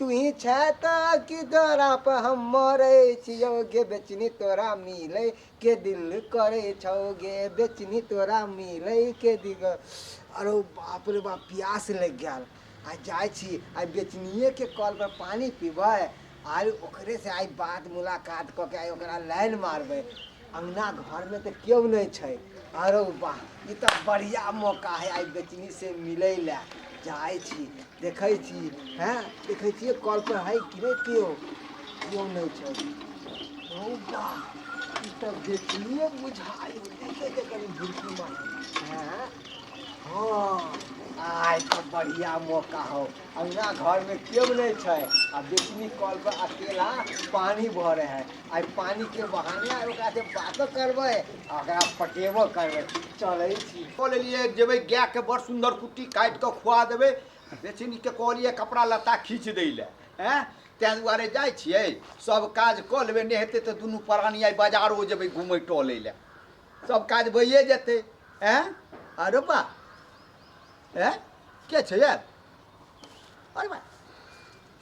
तुहीं छें त कि तोरा प हम मरै छियौ गे बेचनी तोरा मिलै के दिल करै छौ गे बेचनी तोरा मिलै के दिल अरे बाप रे बाप प्यास लागि गेल आ जाइ छी आइ बेचनिएके कलपर पानि पीबै आइ ओकरेसँ आइ बात मुलाकात कऽ के आइ ओकरा लाइन मारबै अंगना घर में तो क्यों नहीं छै अरे वाह ई तो बढ़िया मौका है आई बेचनी से मिले ला जाए छी देखे छी हैं देखे छी कॉल पर है कि नहीं क्यों क्यों नहीं छै ओ वाह ई तो बेचनिए बुझाई देखे के कनी भूखी मार हैं हाँ आय तो बढ़िया मौका हो अंगना घर में क्यों नहीं छै आ बेचनी कॉल पर अकेला पानी भरे है आइ पानी के बहाने आइ ओकरा से बातो करबै आ ओकरा पटेबो करबै चलै छी कऽ लेलियै जेबै गायके बड़ सुन्दर कुट्टी काटि कऽ खुआ देबै बेचनीके कहलियै कपड़ा लत्ता खींच दै लए एँ ताहि दुआरे जाइ छियै सभ काज कऽ लेबै नहि हेतै तऽ दुनू प्राणी आइ बाजारो जेबै घूमै टहलै लए सभ काज भइए जेतै एँ अरे बा एँ के छै यार अरे बा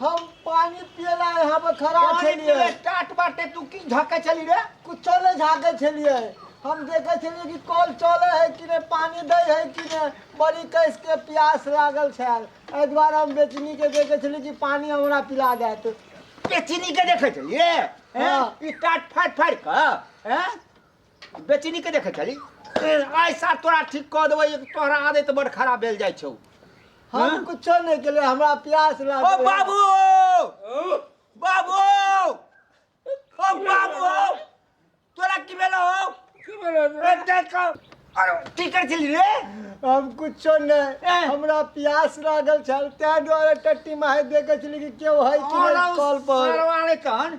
हम पानी पिए ला यहाँ पर खड़ा पानी छलिए पीले टाट बाटे तू की झाके चली रे कुछो नहीं झाके छलिए हम देखे छलिए कि कॉल चले है कि नहीं पानी दे है कि नहीं बड़ी कैस के प्यास लागल छल एहि दुआरे हम बेचनी के देखे छलिए कि पानी हमरा पिला देत बेचनी के देखे चली रे हाँ। हैं? ई टाट फाट फाट क हैं? बेचनी के देखे छली आइ साथ तोरा ठीक कऽ देबै तोहरा आदत बड़ खराब भेल जाइ छौ हाँ? हम कुछो नहीं के लिए हमरा प्यास ओ लागल बाबू बाबू ओ बाबू तोरा की भेल हो की बोलो ए, देख कऽ। अरे की कर छली रे हम कुछो नहीं ए। हमरा प्यास लागल छल तै द्वारे टट्टी माहे देखे छली कि केओ है कि और नहीं कॉल पर सरवाले तहन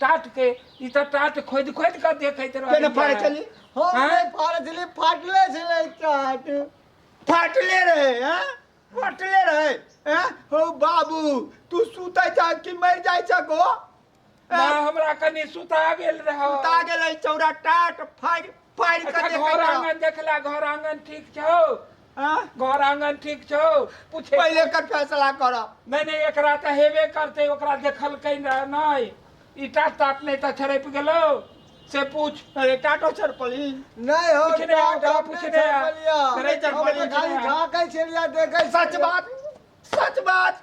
टाट के ई त टाट खोद खोद के देखैत केना रहल फाड़े चली हम हाँ? नहीं फाड़े छली फाटले छले चाट फाटले रहे हैं फाटले रहे हैं हो बाबू तू सुतै जा कि मर जाइ छ को ना हमरा कनी सुता गेल रहो उता गेलै चौरा टाट फाड़ फाड़ के अच्छा देखै घर छौ। आंगन देखला घर आंगन ठीक छौ हाँ? घर आंगन ठीक छौ पूछे पहिले एकर फैसला करब नहीं नहीं एकरा तो हेबे करते ओकरा देखलकै न नहीं ईटा टाट नहीं तो छड़प गेलो से पूछ अरे टाटो छर पली नहीं हो पूछने आ, टाटो ओकरा पूछने नहीं आ। छर पलिया। करे चल हम पलिया, तो खाली पूछने आ। झाँकै छलिया देखै सच बात सच बात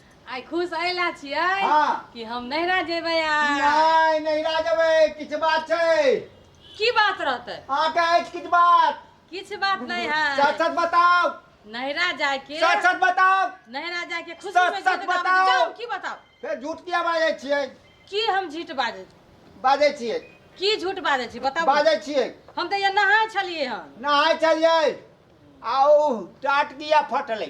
आइ खुश एहि लए छियै हाँ। कि हम नैहरा जेबै आ नहि नैहरा जेबै किछु बात छै की बात रहतै अहाँके अछि किछु बात किछु बात नहि है सच सच बताउ नैहरा जायके सच सच बताउ नैहरा जायके खुशी सच- में सच जिद गाबै छै। बताउ। जाउ, की बताउ फेर झूठ किया बाजै छियै की हम झूठ बाजै छी बाजै छियै की झूठ बाजै छी बताउ बाजै छियै हम तऽ ये नहाय छलियै हन नहाय चलियै आ ओ टाट किया फटलै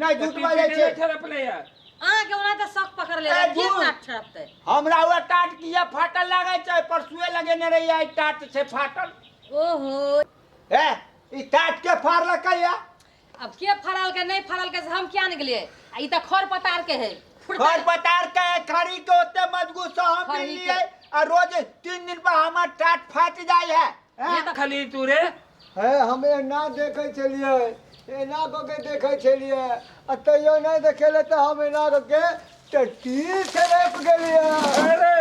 नहि दूध पीपी बाजै के छै नहि ठरपले ये। अहाँके ओना तऽ शौक पकड़ ले ए, की दूर। नाक छरपतै हमरा हुआ टाट किया फाटल लागै छै परसुए लगेने रही आई टाट छै फाटल ओहो ए ई टाट के फाड़लकै या अब के फरल के नहीं फरल के से हम क्या ने गेलिए आ ई त खर पतार के है फुटता घर पतार के खरी के ओते मजगूत से हम खरी के। मिलिए आ रोज तीन दिन पर हमर टाट फाट जाय है ये तो खाली तू रे हे हम एना देखै छलियै एना कऽ के देखै छलियै आ तैयो नहि देखेले तऽ हम एना कऽ के टट्टी छलैप गेलियै अरे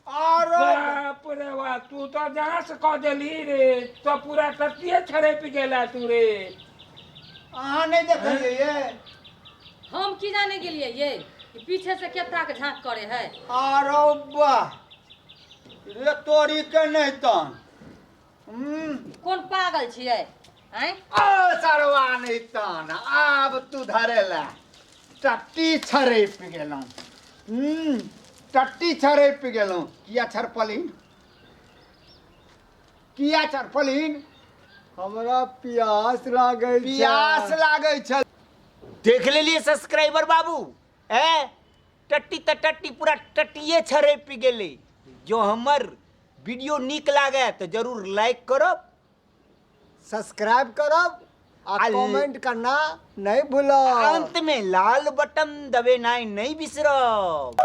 आरो बाप रे बा तू तो जहाँ से कह देली रे तो पूरा टट्टिए छड़ेप गेला तू रे अहाँ नहि देखलियै ये हम की जाने गेलियै ये कि पीछे से केता के झांक करे है आरो वाह रे तोरी के नहीं तन हम्म, कोन पागल छियै आँय आ सरवा नहीं तन आब तू धरे ला टट्टी छरैप गेलहुँ हम्म, टट्टी छरैप गेलहुँ किया छरपलिन किया छरपलिन हमरा प्यास लागे प्यास लागै छल देख लेलिए सब्सक्राइबर बाबू ए टट्टी तऽ टट्टी पूरा टट्टिए छरपि गेलै जँ हमर वीडियो नीक लागए तऽ जरूर लाइक करब सब्सक्राइब करब आ आ- कमेंट करना नहीं भूलो अन्तमे लाल बटन दबेनाइ नहि बिसरब